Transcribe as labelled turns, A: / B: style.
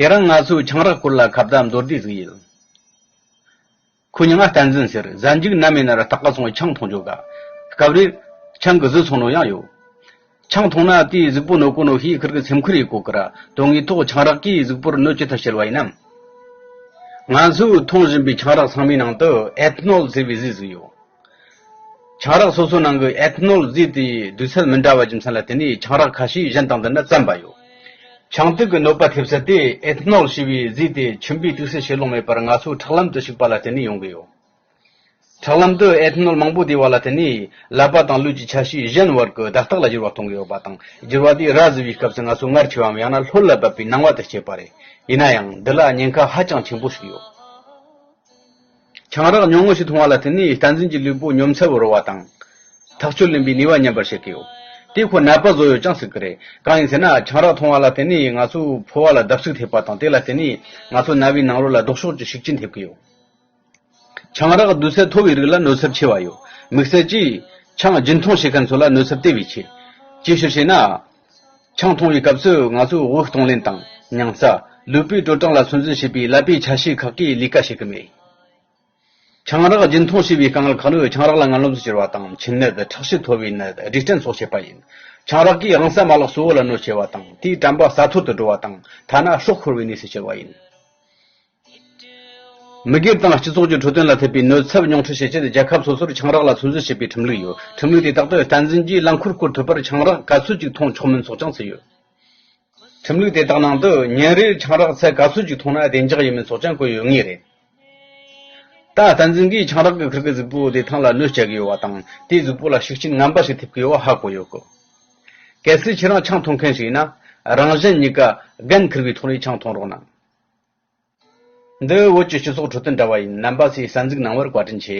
A: དེ་རིང་ང་ཚོས་ཆང་རག་སྐོར་ལ་ཁ་བརྡ་མདོར་བསྡུས་གཟིགས་ཡོད། ཁོས་མྱི་ང་བསྟན་འཛིན་ཟེར་གཟའ་འཇུག་ན་མེད་ན་ར་སྟག་ག་ཚོང་གི་ཆང་འཐུང་འཇུག་ག། སྐབས་རེར། ཆང་གི་བཟོས་ཚོང་ནོར་ཡང་ཡོད། ཆང་འཐུང་ན་དེའི་གཟུགས་པོ་ནོར་གོ་ནོར་ཤེས་ཁུལ་གྱི་སེམས་ཁུར་ཡོད་གོ་གི་ར་དོན་དངོས་ཐོག་ཆང་རག་གིས་གཟུགས་པོར་གནོད་ཅི་ཐུབ་བྱེད་བ་ཡིན་ནམ། ང་ཚོས་འཐུང་བཞིན་པའི་ཆང་རག་ཚང་མའི་ནང་དུ Ethanol ཟེར་བའི་གཟུགས་གཟུགས་ཡོད། ཆང་རག་སོ་སོའི་ནང་གི Ethanol རྫས་དེའི་འདུས་ཚད་མི་འདྲ་བ་རྒྱུ་མཚན་ལ་བརྟེན་ནས་ཆང་རག་ཁ་ཤས་གཞན་དང་བསྡུར་ན་བཙན་པ་ཡོད། ཆང་དུག་གི་གནོད་པ་ཐེབས་ཚད་དེ Ethanol ཞེས་པའི་རྫས་དེ་མཆིན་པའི་དུག་སེལ་བྱེད་ལོང་མེད་པར་ང་ཚོའི་ཁྲག་ལམ་དུ་ཞུགས་པ་ལ་བརྟེན་ནས་ཡོང་གི་ཡོད། ཁྲག་ལམ་དུ Ethanol མང་པོ་བསྡད་པ་ལ་བརྟེན་ནས་ཀླད་པ་དང་ལུས་ཀྱི་ཆ་ཤས་གཞན་བར་གྱི་བརྡ་རྟགས་ལ་འགྱུར་བ་གཏོང་གི་ཡོད་པ་དང་འགྱུར་བ་དེས་ར་བཟི་བའི་སྐབས་སུ་ང་ཚོ་ངར་ཆེ་བའམ་ཡང་ན་ལྷོད་ལ་བབས་པའི་སྣང་བ་དེ་སྐྱེས་པ་རེད། ཡིན་ན་ཡང་འདི་ལ་ཉེན་ཁ་ཧ་ཅང་ཆེན་པོ་ཞིག་ཡོད། ཆང་རག་ཉུང་ངུ་ཞིག་འཐུང་བ་ལ་བརྟེན་ནས་བསྟན་འཛིན་གྱི་ལུས་པོ་ཉོམ་ཚད་བོར་བ་དང། ཐག་གཅོད་ལེན་པའི་ནུས་བ་ཉམས་པར་བྱེད་ཀྱི་ཡོད། དེ་ཁོ་ནད་པ་བཟོ་ཡོད་ཀྱང་སྲིད་ཀྱི་རེད། གང་ཡིན་ཟེར་ན་ཆང་རག་འཐུང་བ་ལ་བརྟེན་ནས་ང་ཚོའི་ཕོ་བ་ལ་བརྡབ་གསིག་ཐེབས་པ་དང་དེ་ལ་བརྟེན་ནས་ང་ཚོའི་རྣ་བའི་ནང་རོ་ལ་ལྡོག་ཕྱོགས་ཀྱི་ཤུགས་རྐྱེན་ཐེབས་ཀྱི་ཡོད། ཆང་རག་འདུས་ཚད་མཐོ་བའི་རིགས་ལ་གནོད་ཚབས་ཆེ་བ་ཡོད། དམིགས་བསལ་གྱིས། ཆང་རྒྱུན་འཐུང་བྱེད་མཁན་ཚོ་ལ་གནོད་ཚབས་དེ་བས་ཆེ། ཅིའི་ཕྱིར་ཞེ་ན། ཆང་འཐུང་བའི་སྐབས་སུ་ང་ཚོས་འོད་གཏོང་ལེན་དང། མྱང་རྩ། ལུས་པོའི་དྲོ་གྲང་ལ་ཚོད་འཛིན་བྱེད་པའི་ཀླད་པའི་ཆ་ཤས་ཁག་གི་ལས་ཀ་བྱེད་ཀྱི་མེད། ཆང་རག་རྒྱུན་འཐུང་བྱས་པའི་རྐང་ལག་ཁ་ལུད་ཆང་རག་ལ་རྔ་རློམ་དུ་གྱུར་བ་དང་མཆིན་ནད་ཁྲག་ཤེད་མཐོ་བའི་ནད་སྦྲིད་སྐྲན་སོགས་བྱེད་པ་ཡིན། ཆང་རག་གིས་རང་བསྲེགས་མ་ལག་གཙོ་བོ་ལ་གནོད་ཆེ་བ་དང་དེའི་དྲན་པ་ས་འཐོར་དུ་འགྲོ་བ་དང་ཐ་ན་ཧྲོག་ཁོར་བའི་གནས་སུ་གྱུར་བ་ཡིན། མི་སྒེར་དང་སྤྱི་ཚོགས་ཀྱི་འཕྲོད་བསྟེན་ལ་ཐེབས་པའི་གནོད་ཚབ་ཉུང་འཕྲི་བྱེད་ཆེད་རྒྱལ་ཁབ་སོ་སོར་ཆང་རག་ལ་ཚོད་འཛིན་བྱེད་པའི་ཁྲིམས་ལུགས་ཡོད། ཁྲིམས་ལུགས་དེ་དག་ཏུ་བསྟན་འཛིན་གྱིས་རླངས་འཁོར་བསྐོར་ཐུབ་པར་ཆང་རག་ག་ཚོད་ཅིག་འཐུང་ཆོག་མིན་སོགས་ཀྱང་ཚུད་ཡོད། ཁྲིམས་ལུགས་དེ་དག་ནང་དུ་ཉིན་རེར་ཆང་རག་ཚད་ག་ཚོད་ཅིག་འཐུང་ན་བདེ་འཇགས་ཡིན་མིན་སོགས་ཀྱང་བཀོད་ཡོད་ངེས་རེད། ད་བསྟན་འཛིན་གྱིས་ཆང་རག་གི་ཁུར་གྱི་གཟུགས་པོ་དེ་ཐང་ལ་གནོད་བསྐྱལ་གྱི་ཡོད་པ་དང་དེའི་གཟུགས་པོ་ལ་ཤུགས་རྐྱེན་ངན་པ་ཞིག་ཐེབས་ཀྱི་ཡོད་པ་ཧ་གོ་ཡོད། གལ་སྲིད་ཁྱེད་རང་ཆང་འཐུང་མཁན་ཞིག་ཡིན་ན། རང་གཞན་གཉིས་ཀ་རྒན་འཁུར་བའི་ཐོག་ནས་ཆང་འཐུང་རོགས་གནང། འདི་བོད་ཀྱི་སྤྱི་ཚོགས་ཁྲོད་དུ་འདྲ་བ་ཡིན། རྣམ་པ་ཚོས་གསར་འཛུགས་གནང་བར་བཀའ་དྲིན་ཆེ།